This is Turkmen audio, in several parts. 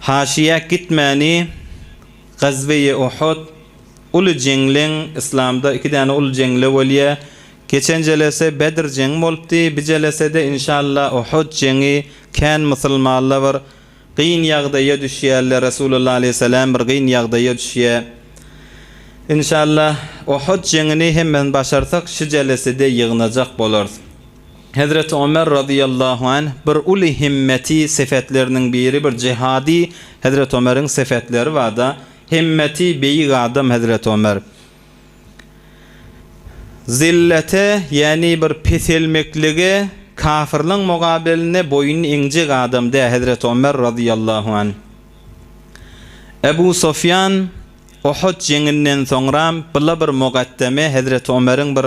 Haşyýa gitmäni Gazweýi Uhud uly jeňleň Yslamda iki däne uly jeňle bolýa. Geçen jelese Bedr jeňi bolupdy, bi jelesede inşalla Uhud jeňi kän musulmanla bir gyn ýagdaýa düşýärler Resulullah aleýhissalam bir gyn ýagdaýa düşýä. Inşalla Uhud jeňini hemmen başarsak şu jelesede ýygnajak bolarys. Hezreti Ömer razyýallahu anh, bir uly himmeti sepetleriniň biri bir jihady Hezreti Ömeriň sepetleri barda himmeti beýik adam Hezreti Ömer zillete ýani bir peselmeklige kafirliň mugabelinde boýun eňjek adam dä Hezreti Ömer razyýallahu anh Ebu Sofýan Uhud jeňinden soňra bile bir mugaddeme Hezreti Ömeriň bir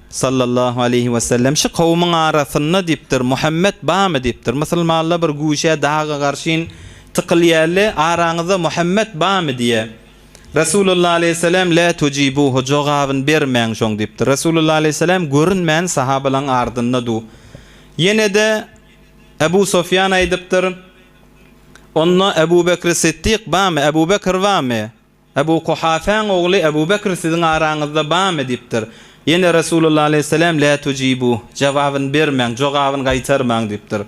Sallallahu aleýhi we sellem, Şu kowumyň arasynda diýipdir, Muhammet barmy? diýipdir. Musulmanlar bir güýçe, daga garşyn tykylýarly, Araňyzda Muhammet barmy? diýýär. Resulullah aleýhi sellem, Lä tujibuhu, Jogabyn bermäň şoň diýipdir. Resulullah aleýhi sellem görünmän sahabalaryň ardynda dur. Ýene-de Ebu Sofýan aýdypdyr, Onda Ebu Bekri Siddik barmy? Ebu Bekr barmy? Ebu Kuhafäň ogly Ebu Bekr siziň araňyzda bamy? diýipdir. Ýene Resulullah aleýhisselam, Lä tujibûh, jogabyny bermäň, jogabyny gaýtarmaň diýipdir.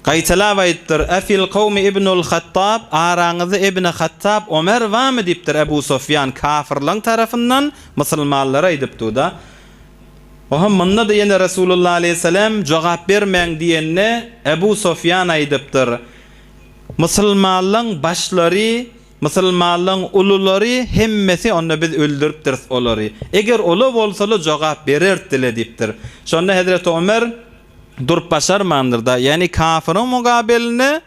Gaýtalap aýdypdyr, Efil kawmi Ibnul Hattab, araňyzda Ibni Hattab, Omer bamy? diýipdir. Ebu Sofýan, Kafyrlaň tarapyndan musulmanlara aýdypdyda. Oho, munda-da ýene Resulullah aleýhisselam, Jogap bermäň diýende, Ebu Sofýan aýdypdyr, Musulmanlaň başlary Musulmanlaň ululary hemmesi onda biz öldüripdiris olary. Eger ola bolsala jogap berertdile diýipdir. Şonda hezreti Omer durup başarmandyrda, ýagny kafyryň mugabelinde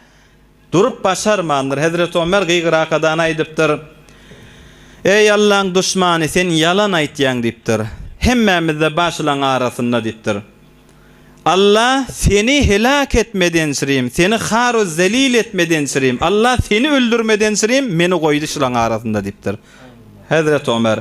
durup başarmandyr. Hezreti Omer gygyrakadana aýdypdyr. Eý Allaň duşmany sen ýalan aýtýaň diýipdir. Hemmämizde başlaň arasynda diýipdir. Allah seni helak etmedençirim, seni haru zelil etmedençirim, Allah seni öldürmedençirim, meni goýdy şulaň arasynda diýipdir. Hezreti Omer,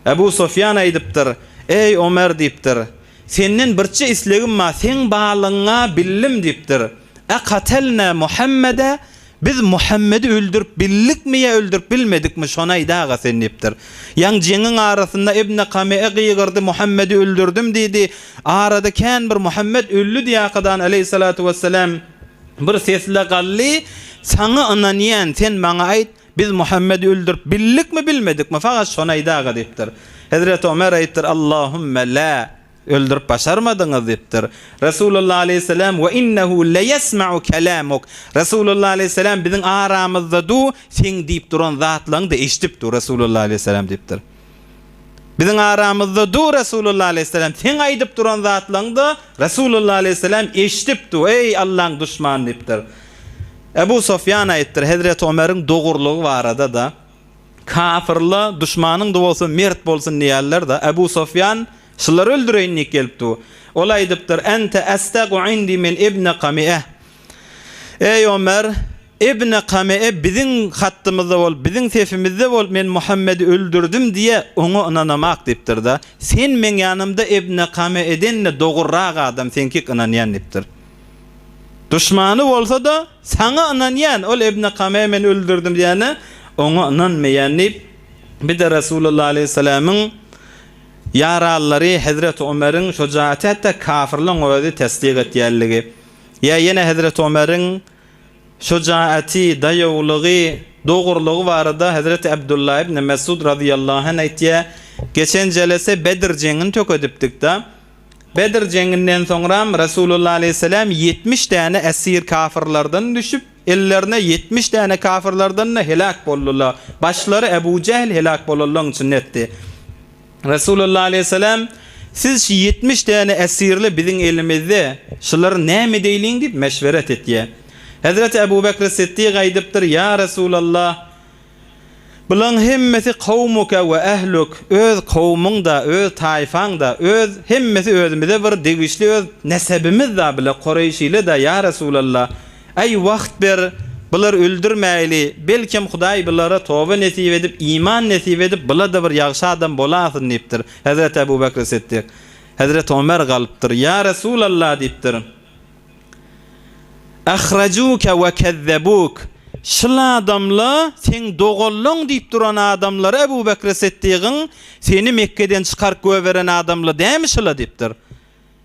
Ebu Sofýan aýdypdyr, Eý Omer diýipdir, senden birçe islegim bar, seň barlygyňa bildim diýipdir. Ekatelne Muhammede, Biz Muhammedi öldürip bildikmi ýa öldürip bilmedikmi, şony aýt, aga sen, diýipdir. Ýaň jeňiň arasynda Ibn Kame'e gygyrdy, Muhammedi öldürdim, diýdi. Arada kän bir Muhammet öldi diýäkadan, aleýhissalatu wessalam bir sesle galdy, Saňa ynanýan, sen maňa aýt, biz Muhammedi öldürip bildikmi, bilmedikmi, fagat şony aýt, aga, diýipdir. Hezreti Omer aýtdyr, Allahümme la! Öldürip başarmadyňyz diýipdir. Resulullah aleýhisselam, Ve innehu leýesma'u kelamuk, Resulullah aleýhisselam biziň aramyzda du, seň diýip duran zatlaňy-da eşidip dur, Resulullah aleýhisselam diýipdir. Biziň aramyzda du, Resulullah aleýhisselam, seň aýdyp duran zatlaňy-da, Resulullah aleýhisselam, eşidip du, eý, Allaň duşmany diýipdir. Ebu Sofýan aýypdyr, Hezreti Omeriň dogurlygy barada-da, Kafirla duşmanyň-da bolsa mert bolsun diýerler-de, Abu Sofýan şulary öldüreýin diýip gelipdi. Ol aýdypdyr, Ente estegu indi min ibne Kami'e. Eý, Omer, ibne Kami'e biziň hattymyzda bol, biziň sefimizde bol, men Muhammedi öldürdim diýe, oňa ynanamak diýipdir-de. Sen meň ýanymda ibne Kami'eden-de dogrurak adam, seňkik ynanýan diýipdir. Duşmany bolsa-da. Saňa ynanýan, ol Ibn Kamä men öldürdim diýende, oňa ynanmaýan diýip, bir-de Resulullah aleýhissalamyň ýaralylary hezreti Ömeriň şujaýaty hatda kafirligiň özi tassyk etýänligi, ýa ýene hezreti Ömeriň şujaýaty, daýawlygy, dogrulygy barada hezreti Abdullah ibn Mesud razyýallahu anh aýtýar, Geçen jelese Bedr jeňini tökedipdik-de, Bedr jeňinden soňram Resulullah aleýhissalam ýetmiş däne esir kafyrlardan düşüp, ellerine ýetmiş däne kafyrlardan-da heläk boldular. Başlary Ebu Jähl heläk bolanlaryň içinde etdi. Resulullah aleýhissalam, Siz şu ýetmiş däne esirli biziň elimizde, şulary näme edeýliň diýip meşweret etýär. Hezreti Ebu Bekr Siddik aýdypdyr, Ýa Resulallah! Bulaň hemmesi kowmuka we ähluk, öz kowmyň-da, öz taýfaň-da, öz, hemmesi özümize bir degişli öz nesebimiz-da bile Koreýşile-da, ýa Resulalla, äý, wagt ber, bular öldürmäýli, belkem Hudaý bulara toba nesip edip, iman nesip edip, bular-da bir ýagşy adam bolasyn diýipdir. Hezreti Ebu Bekri Siddik, Hezreti Omer galypdyr, Ýa Resulalla diýipdir. Ahrajuke we kezzebuk, Şul adamla seň doganlaň diýip duran adamlar Ebu Bekri Sytdygyň seni Mekgeden çykaryp göberen adamla dämi şula diýipdir.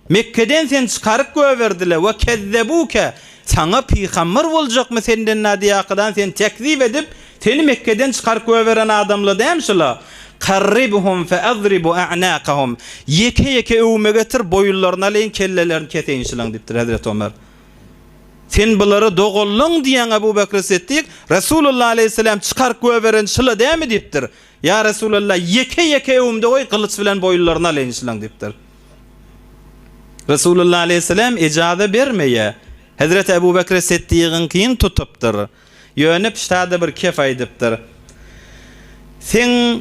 Mekgeden seni çykaryp göberdiler we kezzebuke, saňa pygamber boljakmy senden nadýakydan seni tekzip edip, Seni Mekgeden çykaryp göberen adamla däm şula, Qarribuhum fe adribu a'nakahum, Ýeke ýeke öwüme getir, boýunlaryny alaýyn, kellelerini keseýin şulaň diýipdir Hezreti Omar. Sen bulara doganlyň diýýäň Abu Bakr Siddik, Resulullah aleýhisselam çykaryp göberen şula dämi diýipdir. Ýa Resulallah, ýeke ýeke öwümde goý, gylyç bilen boýunlaryny alaýyn şulaň diýipdir. Resulullah aleýhisselam ejaza bermeýär. Hezreti Abu Bakr Siddigiňkini tutupdyr. Ýöne pişt-ä-de bir kep aýdypdyr. Seň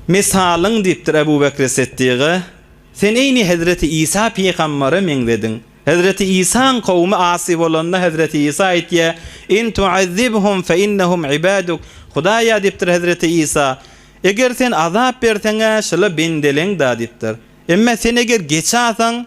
misalyň, diýipdir Ebu Bekri Siddyga, sen eýni hezreti Isa pygambere meňzediň. Hezreti Isaň kowumy asy bolanda, hezreti Isa aýtýar, In tu'azzibhum fe innehum ibaduk, Hudaýa, diýipdir hezreti Isa, eger sen azap berseň-ä, şular bendeleň-dä, diýipdir. Emma sen eger geçasaň.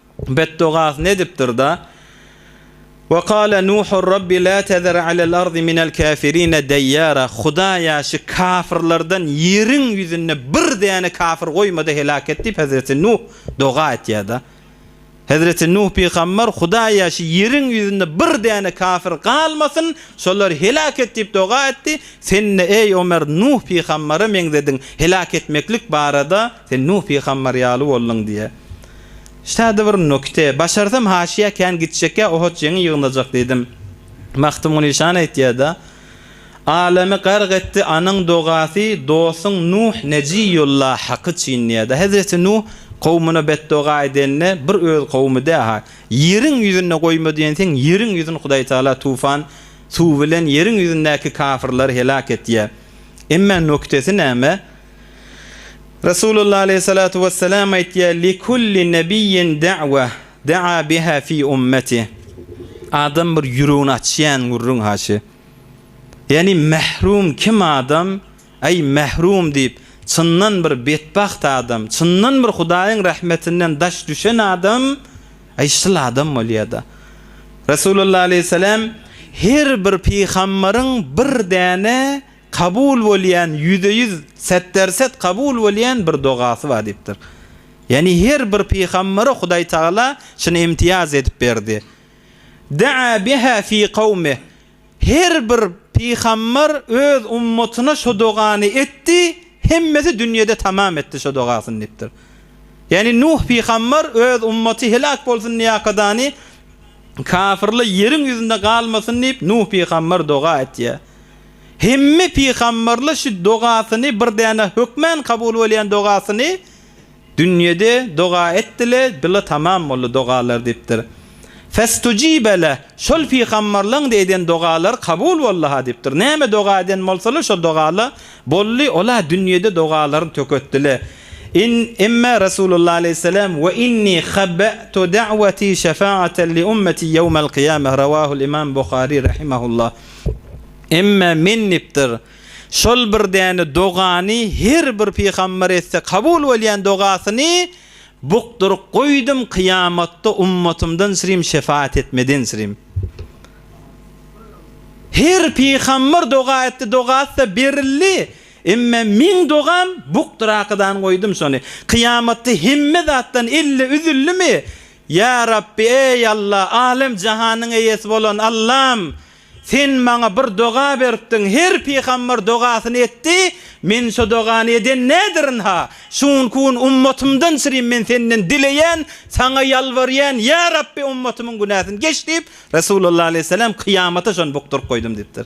Betdogasny edipdir-de, Ve kâle Nuhur Rabbi lâ tezer alel ardi minel kâfirine deyyâra, Hudaýa şu kafirlerden ýeriň ýüzünde bir däne kafir goýma-da heläk et diýip hezreti Nuh doga etýär-de. Hezreti Nuh pygamber Hudaýa şu ýeriň ýüzünde bir däne kafir galmasyn, şolary heläk et diýip doga etdi, sen-de eý Omer Nuh pygambere meňzediň, heläk etmeklik barada sen Nuh pygamber ýaly bolduň diýýär. Şäde bir nokte. Başarsam haşyýa kän gitjekýa ohoç ýeňi ýygnajak diýdim. Magtymguly şany aýtýada, Alemi gark etdi anyň dogasy dosyň Nuh Nejiýulla haky çyn diýýada. Hezreti Nuh kowmuna betdoga edende bir öz kowmy däha, ýeriň ýüzünde goýma diýensiň ýeriň ýüzün Hudaý Taala tufan suwy bilen ýeriň ýüzündäki kafyrlary helak etýä. Emme noktesi näme? Resulullah aleyhissalatu wesselam aýtýar, Likulli nebiyyin da'wa, da'a biha fi ummeti. Adam bir ýüregini açýan gürrüň haçy. Ýani mahrum kim adam, aý mahrum diýip, çyndan bir betbagt adam, çyndan bir Hudaýyň rahmetinden daş düşen adam, aý şul adam bolýada. Resulullah aleyhissalam, Her bir pygambaryň bir däne Kabul bolýan ýüze ýüz setderset kabul bolýan bir dogasy bar diýipdir. Ýani her bir pygambere Hudaý Tagala şuny imtiýaz edip berdi. Da'a biha fi kawmi her bir pygamber öz ummatyna şo dogany etdi, hemmesi dünýede tamam etdi şo dogasyny diýipdir. Ýani Nuh pygamber öz ummaty helak bolsun diýakadany kafirle ýeriň ýüzünde galmasyn diýip Nuh pygamber doga etýä. Hemme pygamberler şu dogasyny bir däne hökmän kabul bolýan dogasyny dünýede doga etdile bile tamam boldy dogalar diýipdir. Festujibe leh şol pygamberleň-de eden dogalary kabul boldyha diýipdir. Näme doga eden bolsalar şo dogala boldy ola dünýede dogalaryny töketdile. In emme Resulullah aleýhisselam we inni khabe'tu da'wati şefaatan li ummeti yewmel qiyameh rawahul imam Buhari rahimehullah. Emma men dipdir, şol bir däne dogany her bir pygamber etse kabul bolýan dogasyny bukduryp goýdum kyýamatda ummatymdan syrym şefaat etmeden syrym. Her pygamber doga etdi dogasy-da berildi, emma meň dogam bukdurakydany goýdum şony. Kyýamatda hemme zatdan elli üzüldimi? Ýa Rabbi eý Alla, Alem jahanyň eýesi bolan Allam, Sen maňa bir doga beripdiň, her pygamber dogasyny etdi, men şo dogany eden nädirinha? Şu günki gün ummatymdan çyrim men Senden dileýän, Saňa ýalbarýan, Ýa Rabbi ummatymyň günäsini geç diýip, Resulullah aleýhisselam kyýamata şony bukduryp goýdum diýipdir.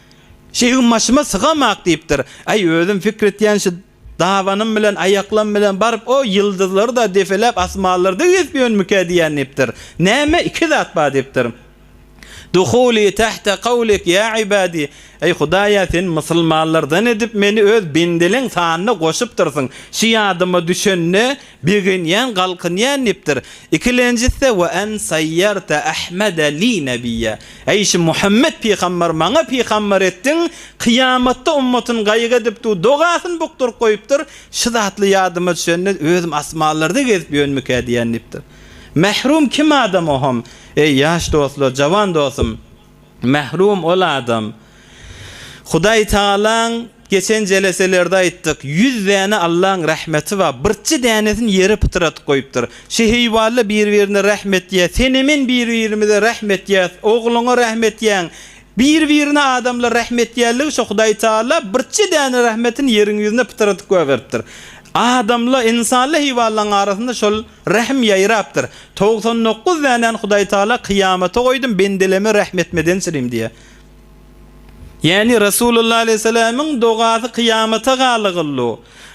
Şeýhim başyma sygamak diýipdir. Aý, özüm pikir etýän şu dabanym bilen, aýaklam bilen baryp o ýyldyzlary-da depeläp asmanlarda gezip ýörmükä diýýän diýipdir. Näme, iki zat bar diýipdir. Duhuli tahta kawlik ýa ibadi, Eý, Hudaý-a, sen musulmanlardan edip meni öz bendeleň sanyna goşupdyrsyň. Şu ýadyma düşende, Begenýän galkynýan diýipdir. Ikilenjisde we en saýýarte Ahmede li nebiyya, Eý şu Muhammet pygamber maňa pygamber etdiň, kyýamatda ummatyn gaýgy edip du dogasyny bukduryp goýupdyr, şu zatly ýadyma düşende özüm asmanlarda gezip ýönmikä diýýän diýipdir. Mährum kim adam oham, eý ýaş dostlar, jawan dostum! Mährum ol adam. Hudaý Tagalaň geçen jeleselerde aýtdyk, ýüz däne Allaň rahmeti bar, birçi dänesini ýere pytradyp goýupdyr. Şi heýwanlar bir-birine rahm etýär, senem men bir-birimize rahm etýäs, ogluňa rahm etýäň, bir-birine adamlar rahm etýärligi şo Hudaý Tagala birçi däne rahmetini ýeriň ýüzüne pytradyp goýberipdir. Adamla, ynsanla heýwanlaň arasynda şol. Rähm ýaýrapdyr. Togsan dokuz dänäni Hudaýtagala kyýamata goýdum, bendeleme rähm etmeden sirim diýýär. Ýagny Resulullah aleýhissalamiň dogasy kyýamata galygyldy.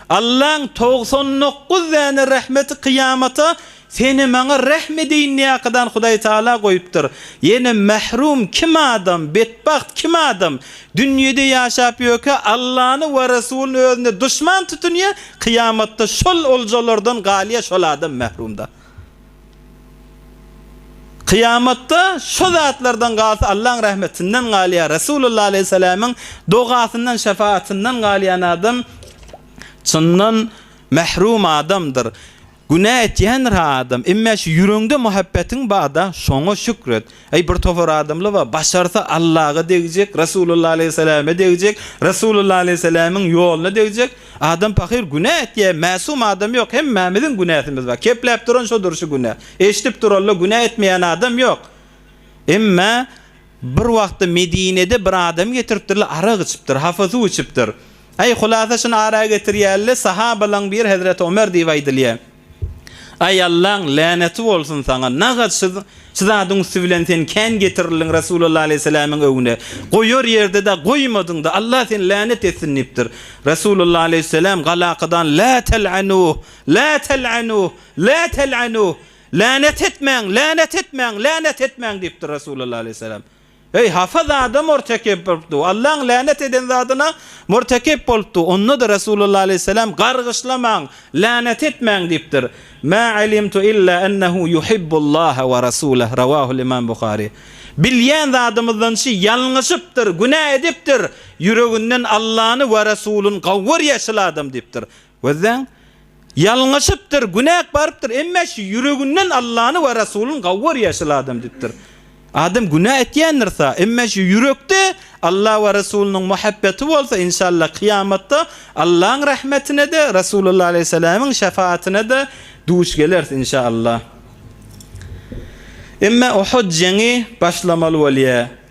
Allaň togsan dokuz däne rähmeti kyýamata seni maňa rähm edeýin diýýäkadan Hudaýtagala goýupdyr. Ýene mährum kim adam, betbagt kim adam dünýede ýaşap ýörkä Allany we Resulyny özüne duşman tutunýar, Kyýamatda şol oljalardan galýa şol adam mährumda. Kyýamatda şo zatlardan galsa Allaň rahmetinden galýa, Resulullah aleýhiselämiň dogasyndan, şefaatyndan galýan adam çyndan mährum adamdyr. Günä etýändir-ha adam, emmä şu ýüregiňde muhabbetiň barda, şoňa şükür et. Eý, bir topar adamlar bar, başarsa Allaga degjek, Resulullah aleýhissalame degjek, Resulullah aleýhissalamiň ýoluna degjek. Adam pahyr günä etýär, mäsum adam ýok, hemmämiziň günäsimiz bar. Kepläp duran şodur şu günä. Eşidip durallar, günä etmeýän adam ýok. Emmä bir wagtda Medinede bir adamy getiripdirler, arak içipdir, hafa suw içipdir. Aý, hulasa şuny ara getirýäli-le, sahabalaň biri hezreti Ömer diýip aýdylýar. Aý, Allaň läneti bolsun saňa, nagat şu zadyň üsti bilen sen kän getirildiň Resulalla aleýhissalamyň öňüne, goýar ýerde-de goýmadyň-da, Allah seni länet etsin diýipdir. Resulalla aleýhissalam galakadan, Lä tel'anuh! Lä tel'anuh! Lä tel'anuh! Länet etmäň! Länet etmäň! Länet etmäň! diýipdir Resulalla aleýhissalam. Eý, hafa zada mürtekip bolupdy. Allaň länet eden zadyna mürtekip bolupdy. Onda-da Resulullah aleýhissalam, Gargyşlamaň, länet etmäň diýipdir. Mä alimtu illa ennehu yuhibbullaha we rasuleh, rawahul imam Buhari. Bilýän zadymyzdan şi, ýalňyşypdyr, günä edipdir, ýüreginden Allany we Resulyn gawy görýär şil adam diýipdir. Gözleň, ýalňyşypdyr, günäk barypdyr, emme şu ýüreginden Allany we Rasulyn gawy görýär şol adam diýipdir. Adam günä etýändirsa, emme şu ýürekde Alla we Rasulnyň muhabbeti bolsa, inşallah, kyýamatda Allaň rahmetine-de, Rasulullah aleýhissalamyň şefaatine-de duş geleris, inşallah. Emme Uhud jeňi başlamaly bolýar.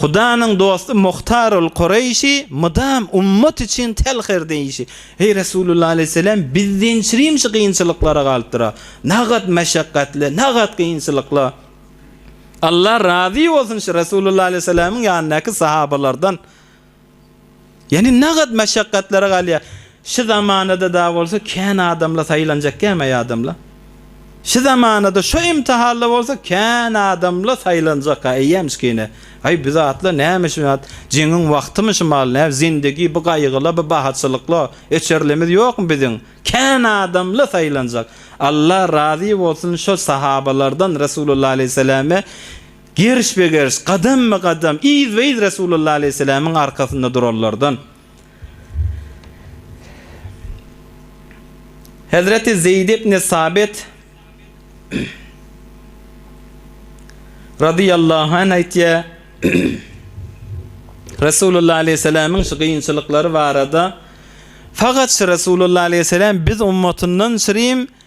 Hudanyň dosty Muhtarul Kureýşi mydam ummat üçin telh her diýişi, Eý Resulullah aleýhisselam, biz diýen çirim şu kynçylyklara galypdyra. Nagat meşekgatly, nagat kynçylykly. Allah razy bolsun şu Resulullah aleýhisselamyň ýanyndaky sahabalardan. Ýani nagat meşakgatlara galýa. Şy zamanada da bolsa kän adamla saýlanjak gämäý adamla. Şy zamanada şo imtihalla bolsa kän adamla saýlanjak a eýýäm şkine. Aý bu zatla näme şy zat jeňiň wagtymy şymal nä zindigi bu gaýgyla bu bahaçylykla öçerlimiz ýokmy biziň kän adamla saýlanjak. Alla razy bolsun şo sahabalardan Resulullah aleyhisselame Gerişbe-geriş, gadamma-gadam, yzba-yz Resulullah aleýhissalamiň arkasynda duranlardan Hezreti Zeýd ibni Sabit radiyallahu anh aýtýar, Resulullah aleýhissalamiň şu gynçylyklary barada, Fagat şu Resulullah aleýhissalam biz ummatyndan şirim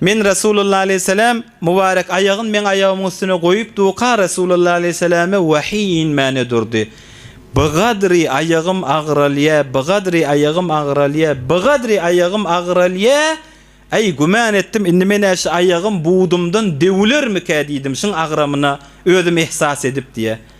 Men Resulullah aleýhissalam mübarek aýagyn meň aýagymyň üstüne goýup duka Resulullah aleýhissalame wahyý inmäne durdy. Bigadri aýagym agyralýa, bigadri aýagym agyralýa, bigadri aýagym agyralýa, Aý güman etdim indi menä şu aýagym budumdan döwülermikä diýdim şuň agramyna özüm ehsas edip diýä.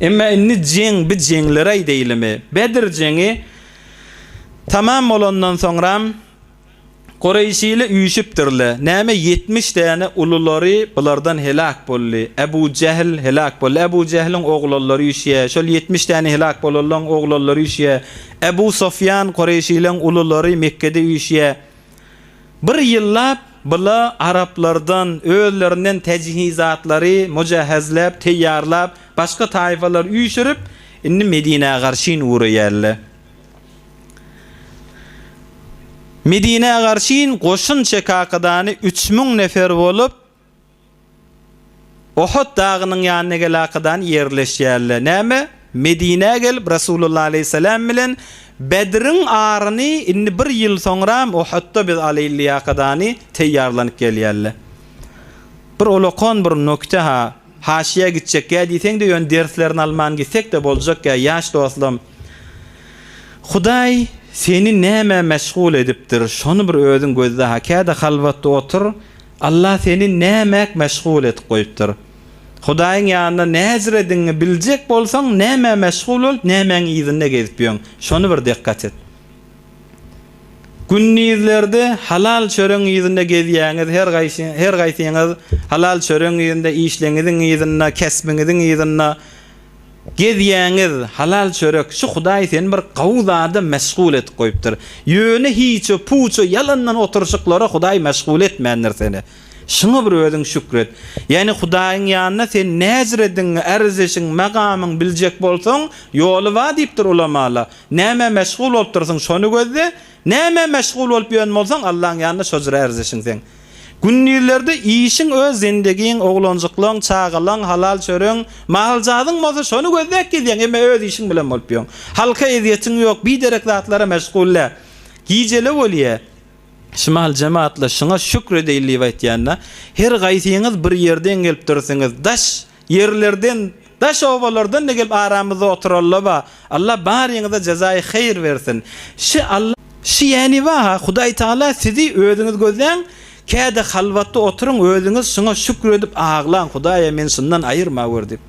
Emma indi jeň bi jeňleri aýdaýlymy. Bedr jeňi tamam bolandan soňram, Gureýşili üýşüpdirle. Näme ýetmiş däne ululary bulardan heläk boldy. Äbu Jähl heläk boldy. Äbu Jähliň oglanlary üýşýä. Şol ýetmiş däne heläk bolanlaň oglanlary üýşýä. Äbu Sofýan Gureýşileň ululary Mekgede üýşýä. Bir ýyllap bula araplardan, özlerinden täjihizatlary mujahezläp, teýýarlap, başga taýfalar üýşürip, indi Medinä garşyn ugraýarlar. Medinä garşyn goşun çekakadany üç müň nefer bolup, Uhud dagynyň ýanyna gelakadan ýerleşýärler. Näme? Medinä gelip Resulullah aleýhissalam bilen Bedriň aryny indi bir ýyl soňram Uhudda biz alaýylýakadany teýýarlanyp gelýärler. Bir olakan bir nokte-ha, haşyýa gitjekgä diýseňde ýöne derslerini alman gitsekde boljakgä ýaş dostum. Hudaý seni nämä meşgul edipdir şony bir özüň gözle-ha käde halwatda otur Allah seni nämäk meşgul edip goýupdyr? Hudaýyň ýanynda näzir ediňi biljek bolsaň, nämä meşgul bolup, nämäň yzynda gezip ýörüň? Şony bir dykgat et. Gündizlerde halal çöregiň yzynda gezýäňiz, her gaýsy, her gaýsyňyz halal çöregiň yzynda, işleňiziň yzynda, kesbiňiziň yzynda. Gezýäňiz halal çörek şu hudaý seni bir gawy zada meşgul edip goýupdyr. Ýöne hiçe puça ýalandan oturyşyklara hudaý meşgul etmändir seni. Şuňa bir özüň şükür et. Ýani hudaýyň ýanyna sen näjiredigiňi erzeşiň megamyň biljek bolsaň ýoly bar diýipdir ulamalar. Nämä meşgul bolupdyrsyň şony gözle. Nämä meşgul bolup ýören bolsaň Allaň ýanyna şojra erzeşiň sen. Gündizlerde işiň öz zendegiň, oglanjyklaň, çagalaň, halal çöregiň, mahaljazyň bolsa şony gözläp gezýäň, emma öz işiň bilen bolup ýöň. Halka ezýetiň ýok, biderek zatlara meşgul dä. Gijele bolýa. Şimal jemaatly şyňa şükr edeýin diýip aýtýanda, Her gaýsyňyz bir ýerden gelipdirsiňiz, daş Ýerlerden, daş-obalardan-da gelip aramyzda oturallaba. Alla baryňyza jezaýy heýr bersin. Şi Alla. Şi ýäni waha, Hudaý Tagala sizi özüňiz gözläň, käde halwatda oturyň özüňiz şuňa şükür edip aglaň, Hudaýa meni şundan aýyrma gör diýip.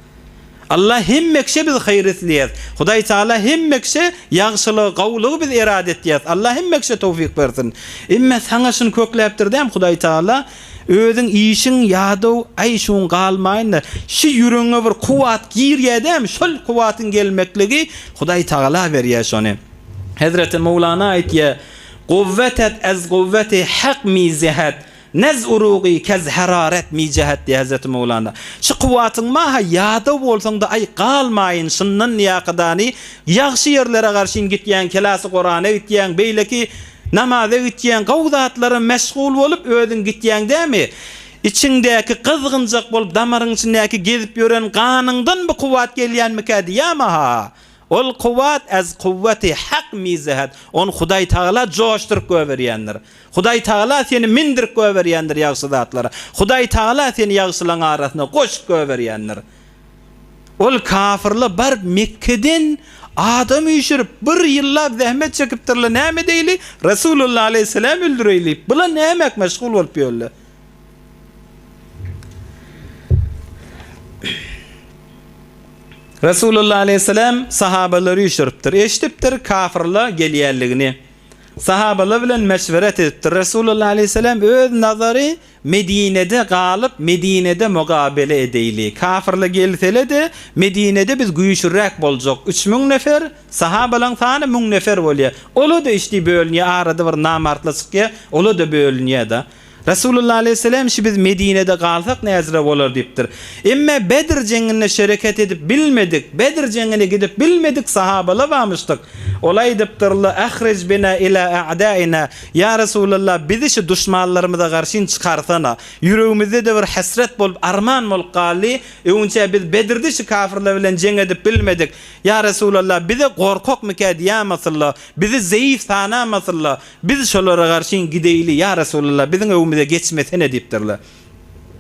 Alla hemme kişä biz heýr isleýäs. Hudaý Tagala hemme kişä ýagşylygy, gowulygy biz erat etýäs. Alla hemme kişä towfyk bersin. Emme saňa şuny kökläpdir däm Hudaý Tagala, Özüň işiň ýadaw aýşuň galmaýynda şi ýüregiňe bir kuwwat girýä dämi şol kuwwatyň gelmekligi Hudaý Tagala berýä şony. Hezreti Mowlana aýtýa, Guwwetet ez guwweti hak mi zehet, nez urugy kez hararet mi cehet diýýä Hezreti Mowlana. Şi kuwwatyň maha ýadaw bolsaňda aý galmaýyn şyndan ýakydany ýagşy ýerlere garşyn gitýäň kelasy gorana gitýäň beýleki Namaza gitýäň, gowy zatlara meşgul bolup özüň gitýäň dämi? Içiňdäki gyzgynjak bolup damaryň içindäki gezip ýören ganyňdan bu kuwwat gelýänmikä diýýäm-aha. Ol kuwwat az kuwwati hak mizahad, ony Hudaý Tagala joşduryp goýberýändir. Hudaý Tagala seni mindirip goýberýändir ýagşy zatlara. Hudaý Tagala seni ýagşylaň arasyna goşup goýberýändir. Ol kafyrlar baryp Mekgeden adam üýşürip, bir ýyllap zähmet çekipdirler, näme edeýli, Resulullah aleýhissalamy öldüreýlik, bular nämek meşgul bolup ýörler. Resulullah aleýhissalam sahabalary üýşüripdir, eşidipdir kafyrlar gelýänligini. Sahabalar bilen meşweret edipdir, Resulullah aleýhissalam öz nazary Medinede galyp, Medinede mugabele edeýli. Kafirle gelsele-de, Medinede biz güýçlüräk boljak. Üç müň nefer, sahabalaň sany müň nefer bolýar. Ola-da işdi bölünýär, arada bir namartla çykýar, ola-da bölünýär-de. Resulullah aleýhissalam şi biz Medinede galsak näzire bolar diýipdir. Emma Bedr jeňinde şereket edip bilmedik, Bedr jeňine gidip bilmedik sahabala barmyşdyk. Ola aýdypdyrla, Ahric bina ila a'daina, Ýa Resulallah, bizi şu duşmanlarymyza garşyn çykarsana. Ýüregimizde-de bir hesret bolup, arman bolup galdy. Öňünçä biz Bedirde şu kafyrlar bilen jeň edip bilmedik. Ýa Resulallah, bize gorkakmykä diýämasynlar, bizi zeýif sanamasynlar. Biz şolara garşyn gideýli, ýa Resulallah, biziň öwümize geçmesene diýipdirler.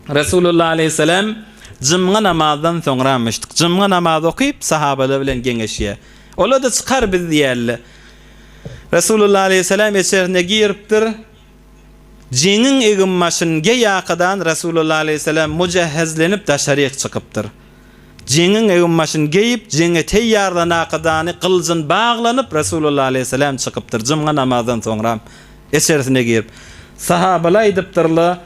Resulullah aleýhissalam jymgy namazdan soňramyşdyk. Jymgy namaz okyp, sahabalar bilen geňeşýär. Olar-da çykar biz diýýärler. Resulullah aleýhissalam içerisine giripdir. Jeňiň egin-başyny geýýärkadan Resulullah aleýhissalam mujehhezlenip daşaryk çykypdyr. Jeňiň egin-başyny geýip, jeňe teýýarlanakadany gylyjyn baglanyp Resulullah aleýhissalam çykypdyr. Jumga namazdan soňram içerisine girip. Sahabalar aýdypdyrlar,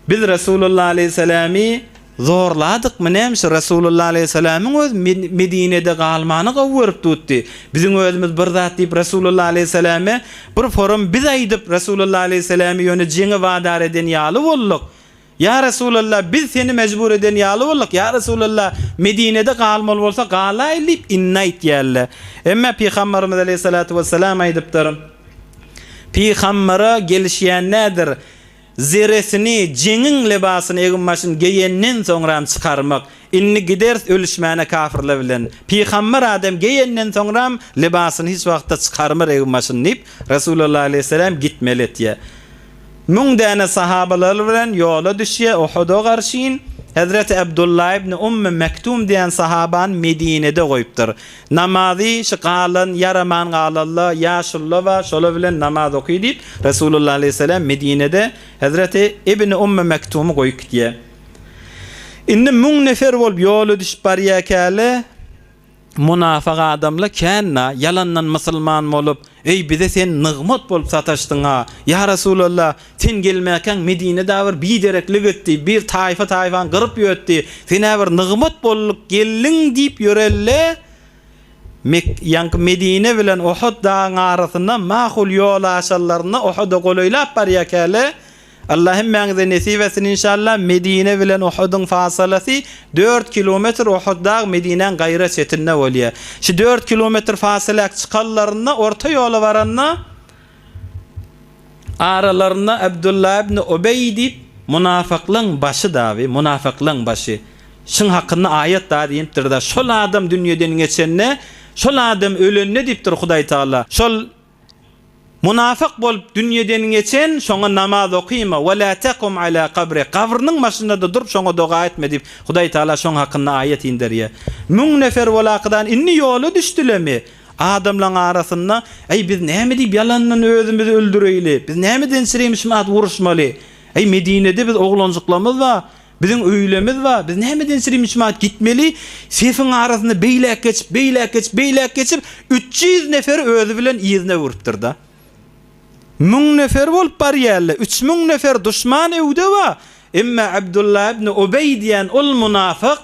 Biz Resulullah aleýhissalamy Zorladykmy näme şu Resulullah aleýhissalamyň öz Medinede galmany gowy görüp tutdy. Biziň özümiz bir zat diýip Resulullah aleýhissalama bir forum biz aýdyp Resulullah aleýhissalamy ýöne jeňe wadar eden ýaly bolduk. Ýa Resulullah biz seni mejbur eden ýaly bolduk ýa Resulullah Medinede galmaly bolsa galaýyl diýip indi aýtýarlar. Emma Pygambarymyz aleýhissalatu wessalam aýdypdyr. Pygambara gelişýän nädir? Zeresini, jeňiň lebasyny egin-başyny geýenden soňram çykarmak, indi gideris ölüşmäne kafyrlar bilen, pygamber adam geýenden soňram lebasyny hiç wagtda çykarmar egin-başyny diýip, Resulullah aleýhisselam gitmeli etýär. Müň däne sahabalary bilen ýola düşýär Uhuda garşyn, Hezreti Abdullah ibn Ummy Mektum diýen sahabany Medinede goýupdyr. Namazy şu galan, ýaraman galanlar, ýaşulular bar, şolar bilen namaz oky diýip, Resulullah aleýhissalam Medinede hezreti Ibni Ummu Mektumy goýup gidýär. Indi müň nefer bolup ýola düşüp barýarkäler, munafyk adamlar kän-la, ýalandan musulman bolup, Eý, bize sen nygmat bolup sataşdyň-a! Ýa Resulallah, Sen gelmäkäň Medine dagy bir bidereklik etdi, bir taýfa-taýfany gyryp ýötdi, sen-ä bir nygmat boldulyk geldiň diýip ýörel-le, Mek, ýaňky Medine bilen Ohut dagyň arasynda mahul ýol aşanlarynda Ohuda golaýlap barýarkäle, Alla hemmäňize nesip etsin inşalla, Medine bilen Ohudyň fasylasy dört kilometr, Ohut dagy Medinäň gaýra çetinde bolýar. Şu dört kilometr fasyläk çykanlarynda, orta ýola baranda, Aralarynda Abdullah ibn Ubeý diýip, munafyklaň başy dabi, munafyklaň başy. Şuň hakynda aýat dabi inipdir-de, Şol adam dünýeden geçende, şol adam ölende diýipdir Hudaý Tagala, Şol munafyk bolup dünýeden geçen, şoňa namaz okyma, we la takum ala kabri, gabrynyň başynda-da durup, şoňa doga etme diýip, Hudaý Tagala şoň hakynda aýat inderýär. Müň nefer bolakydan indi ýola düşdülemi? Adamlaryň arasynda, Äý, biz näme diýip ýalandan özümizi öldüreýli? Biz nämeden çirimşimat uruşmaly? Äý, Medinede biz oglanjyklarymyz bar, biziň öýlerimiz bar, biz nämeden çirimşimat gitmeli? Sefiň arasynda beýläk geçip, beýläk geçip, beýläk geçip, üç ýüz nefer özi bilen yzyna urupdyr-da. Müň nefer bolup barýarlar, üç müň nefer duşman öwde bar, emma Abdullah ibn Ubeý diýen ol munafyk,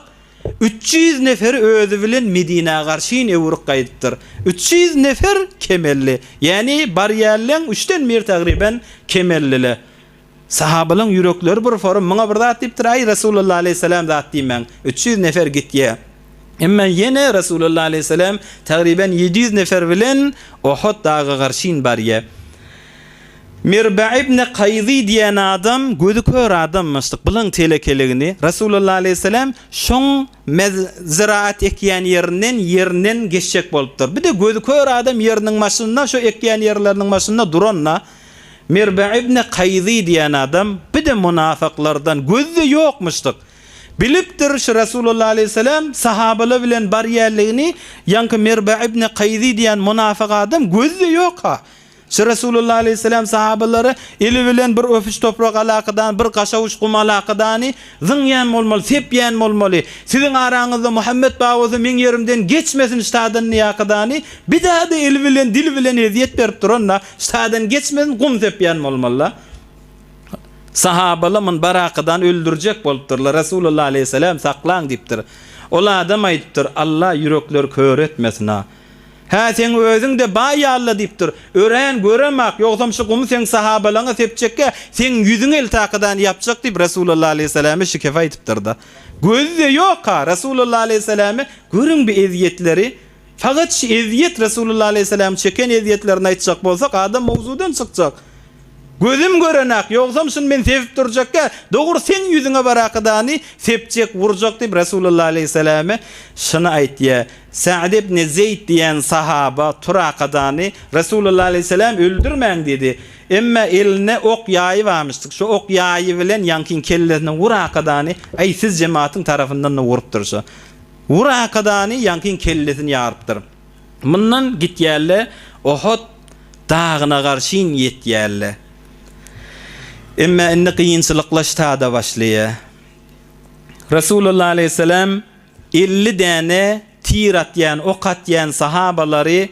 Üç ýüz nefer özi bilen Medinä garşyn öwrük gaýdypdyr. Üç ýüz nefer kemelli, ýagny barýanlaň üçden biri tagryban kemellile. Sahabalaň ýürekleri bir forum, muňa bir zat diýipdir, Aý, Resulalla aleýhissalam zat diýmäň, üç ýüz nefer gitýä. Emma ýene Resulalla aleýhissalam tagryban ýedi ýüz nefer bilen Ohut daga garşyn barýa. Mirbe ibne Kaýzy diýen adam gözi kör adamyşdyk, bilen telekeligini Resulullah aleýhisselam şoň mez zyraat ekýän ýerinden ýerinden geçjek bolupdyr. Bir-de gözi kör adam ýeriniň başynda şo ekýän ýerleriniň başynda duranda Mirbe ibne Kaýzy diýen adam bir-de munafyklardan gözi-de ýokmuşdyk. Bilipdir şu Resulullah aleýhisselam sahabala bilen barýanligini ýaňky Mirbe ibne Kaýzy diýen munafyk adam gözi-de ýok-a. Şo Resulullah aleýhissalam sahabalara, Eli bilen bir öpüş toprak alakydany, bir gaşawuş gum alakydany, zyňýan bolmaly, sepýän bolmaly. Siziň araňyzda Muhammet bar bolsa meň ýerimden geçmesin ştadan ýakydany, bidada eli bilen, dili bilen ezýet berip duranda, ştadan geçmesin, gum sepýän bolmaly-da. Sahabalar muny Barakydan öldürjek bolupdyrlar, Resulullah aleýhissalam saklaň diýipdir. Ol adam aýdypdyr, Allah ýürekleri kör etmesin-a! Hä, seň özüň-de baý ýaly-la, diýip dur. Örän görem-ak, ýogsam şu gumy seň sahabalaryňa sepjekkä, seň ýüzüň eltakydany ýapjak diýip, Resulalla alaýhyssalama şikefe aýdypdyr-da. Gözi-de ýok-a, Resulalla alaýhyssalama, görüň bi ezýetleri! Fakat şu ezýet, Resulalla alaýhyssalamyň çeken ezýetlerini aýtjak bolsak, adam mowzudan çykjak. Gözüm gören-ak, ýogsam şuny men sebip durjakka, dogry seň ýüzüňe barakadany sepjek, wurjak diýip, Resulalla aleýhissalame şuny aýtýar. Sa'd ibn Zeýd diýen sahaba turakadany Resulalla aleýhissalam öldürmäň diýdi. Emma eline ok ýaýy barmyşdyk. Şu ok ýaýy bilen ýaňkyň kellesine wurakadany, aý, siz jematyň tarapyndan-da wurupdyr şu. Wurakadany ýaňkyň kellesini ýarypdyr. Mundan gitýärle, Ohot dagyna garşyn ýetýärle. Emma indi kynçylykla ştada başlaýar. Resulullah aleýhissalam elli däne tir atýan, ok atýan sahabalary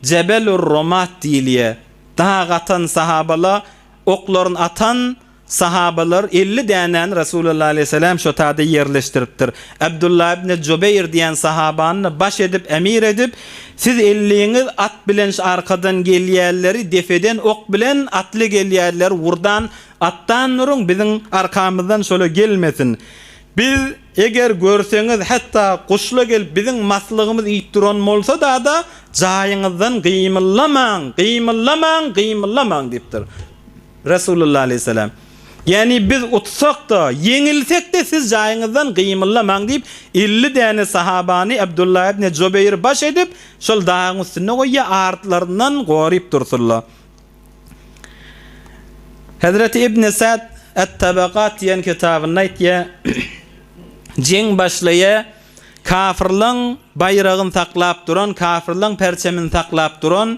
Jebelur-Romat diýilýär. Dag atan sahabala oklaryny atan Sahabalar elli dänäni Resulallah aleýhissalam şo tada ýerleşdiripdir. Abdullah ibne Jubeýr diýen sahabany-da baş edip, emir edip, Siz elliňiz at bilen şu arkadan gelýänleri depeden ok bilen, atly gelýänleri urdan atdan uruň, biziň arkamyzdan şola gelmesin. Biz, eger görseňiz, hatda guş-la gelip biziň maslygymyzy iýip duran bolsa-da-da, jaýyňyzdan gymyllamaň, gymyllamaň, gymyllamaň diýipdir. Resulullah aleýhissalam, Ýagny biz utsak-da, ýeňilsek-de siz jaýyňyzdan gymyldamaň diýip, elli däne sahabany Abdullah ibne Jubeýri baş edip, şol dagyň üstünde goýýar, artlaryndan goryp dursunlar. Hezreti Ibn Sa'd At-Tabaqat diýen kitabynda aýtýar, Jeň başlaýar, kafirleň baýragyny saklap duran, kafirleň perçemini saklap duran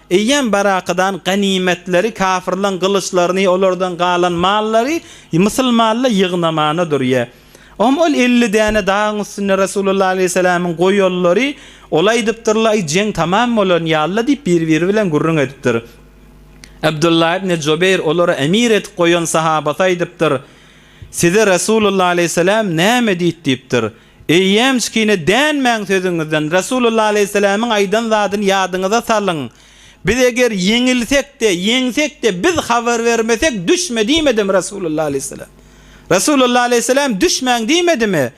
Eýýäm barakadan ganymetleri, kafirlaň gylyçlaryny, olardan galan mallary mysylmalla ýygnamana durýa. Om ol elli däne dagyň üstünde Resulullah aleýhissalamyň goýollary ola aýdypdyrla, Aý, jeň tamam bolan ýalla diýip, bir-biri bilen gürrüň edipdir. Abdullah ibn Jobeýr olara emir edip goýan sahabasy aýdypdyr, Size Resulullah aleýhissalam näme diýt diýipdir. Eýýäm şikine dänmäň sözüňizden, Resulullah aleýhissalamiň aýdan zadyny ýadyňyza salyň, Biz eger ýeňilsek-de, ýeňsek-de, biz habar bermesek, düşme diýmedimi Resulullah aleýhissalam? Resulullah aleýhissalam düşmäň diýmedimi?